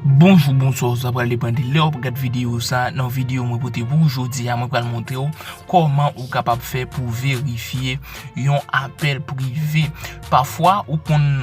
Bonjou bonswa ou sa pral depan de lè wap gad videyo sa nan videyo mwen pote pou ou jodi a mwen pral montre ou kòman ou kapab fè pou verifye yon apèl prive pafwa ou konn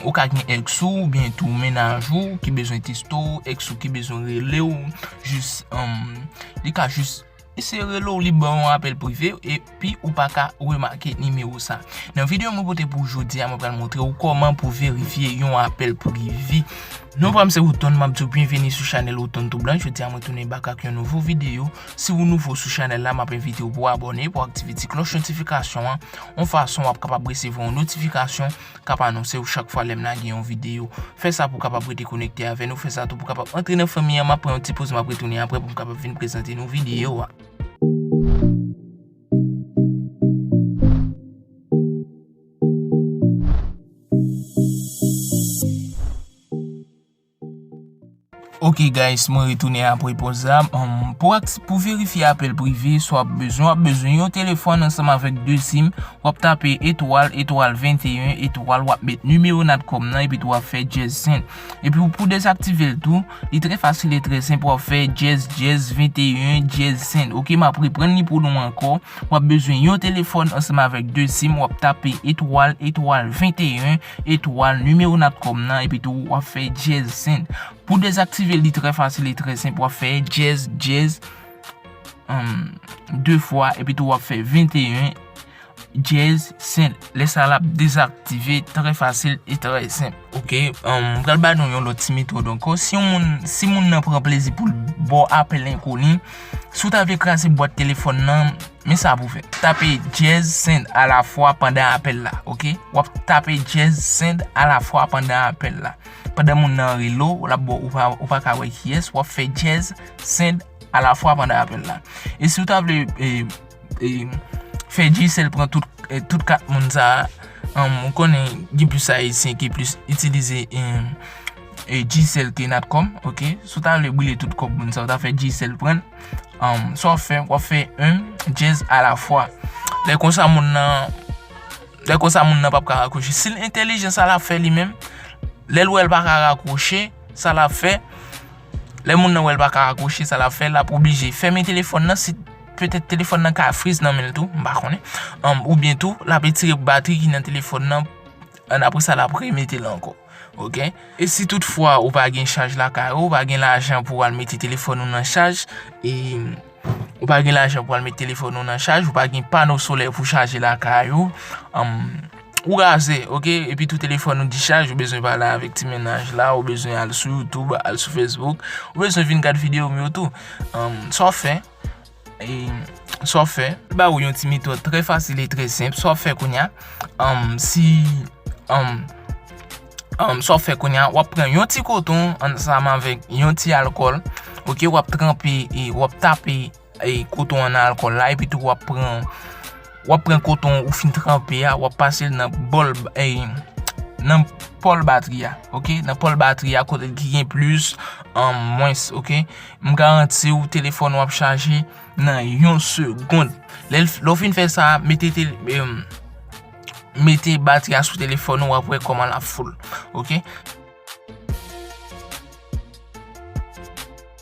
ou ka gen èks ou oubyen tou mennaj ou ki bezwen teksto èks ou ki bezwen rele ou jis li ka jis Eseye rele w li ba w yon apèl prive epi ou pa ka remake nimewo sa. Nan videyo mwen pote pou jodi a mwen pral montre w kòman pou verifye yon apèl prive. Non pa m se Woodton m ap di w byenveni sou chanèl Woodton Tout Blan. Jodi a mwen tounen bak ak yon nouvo videyo. Si w nouvo sou chanèl la m ap envite w pou w abòne, pou w aktive ti klòch notifikasyon an yon fason w ap kapab resevwa yon notifikasyon kap anonse ou chak fwa lèm lage yon video. Fè sa pou kapab rete konekte avè nou, fè sa tou pou kapab antre nan fanmi an, map pran yon ti poz map retounen aprè poum kapab vin prezante nou video a. Ok guys mwen retounen apre poz la, pou verifye apèl prive sa wap bezwen, wap bezwen yon telefòn ansanm avèk 2 sim, wap tape etwal, etwal 21, etwal wap met nimewo natcom nan epi tou wap fè dyèz 100, epi pou dezaktive l tou li trè fasil e trè senp wap fè dyèz dyèz 21 dyèz 100 ok map reprann li pou nou ankò, wap bezwen yon telefòn ansanm avèk 2 sim, wap tape etwal, etwal 21. Etwal, nimewo natcom nan epi tou wap fè dyèz send. Pou dezaktivel li trè fasil e trè senp wap fè dyèz dyèz 2 fwa epi tou wap fè 21 dyèz send. Lè sa lap dezaktive trè fasil e trè senp. Ok, m pral ba nou yon lòt ti metòd ankò. Si yon moun, si moun nan pran plezi poul baw apèl enkoni, si w ta vle kraze bwat telefòn nan. Men sa pou w fè. Tape dyèz send alafwa pandan apèl la. Ok. W ap tape dyèz send alafwa pandan apèl la. Pandan moun nan rele w, la bo ou pa ka wè kiyès, w ap fè dyèz send alafwa pandan apèl la. E si w ta vle fè Digicel pran tout kat moun sa a, ou konnen gen plis Ayisyen ki plis itilize Digicel ke Natcom. Ok. Si w ta vle boule tout kòb moun sa a, w ta fè Digicel pran l. Sa wap fè, wap fè yn djez a la fwa. Lè konsa moun nan, lè konsa moun nan pap ka rakwoche. Sil entelijan sa lap fè li menm, lèl wèl pa ka rakwoche, sa lap fè, lè moun nan wèl pa ka rakwoche, sa lap fè, lap oblije fèmen telefòn nan, si petèt telefòn nan ka friz nan menl tou, mpa konnen. Oubyen tou, lap etire batri ki nan telefòn nan, apresa lap remetel ankò. Ok e si tout fwa ou pa gen chaj lakay ou, ou pa gen lajan pou al mete telefòn ou nan chaj, e ou pa gen lajan pou al mete telefòn ou nan chaj, ou pa gen pano solè pou chaje lakay ou, ou raze ok, epi tou telefòn ou dichaj ou bezwen pale avèk ti mennaj la, ou bezwen al sou YouTube, al sou Facebook, ou bezwen vin gad videyo m yo tou, sa w ap fè? Sa w fè. Mwen ba ou yon ti metòd trè fasil e trè senp. Sa w fè kounye a, si, sa w fè kounye a, w ap pran yon ti koton ansanm avèk yon ti alkòl, ok, w ap tranpe, w ap tape koton an nan alkòl la epitou w ap pran. Wap pran koton ou fin tranpe ya, wap pase l nan bòl, nan pòl batri ya, ok, nan pòl batri ya kote ki gen plis an mwens, ok. M garanti ou telefòn ou ap chaje nan yon segond. Lè ou fin fè sa, mete batri ya sou telefòn ou wap wè kòman lap foul, ok.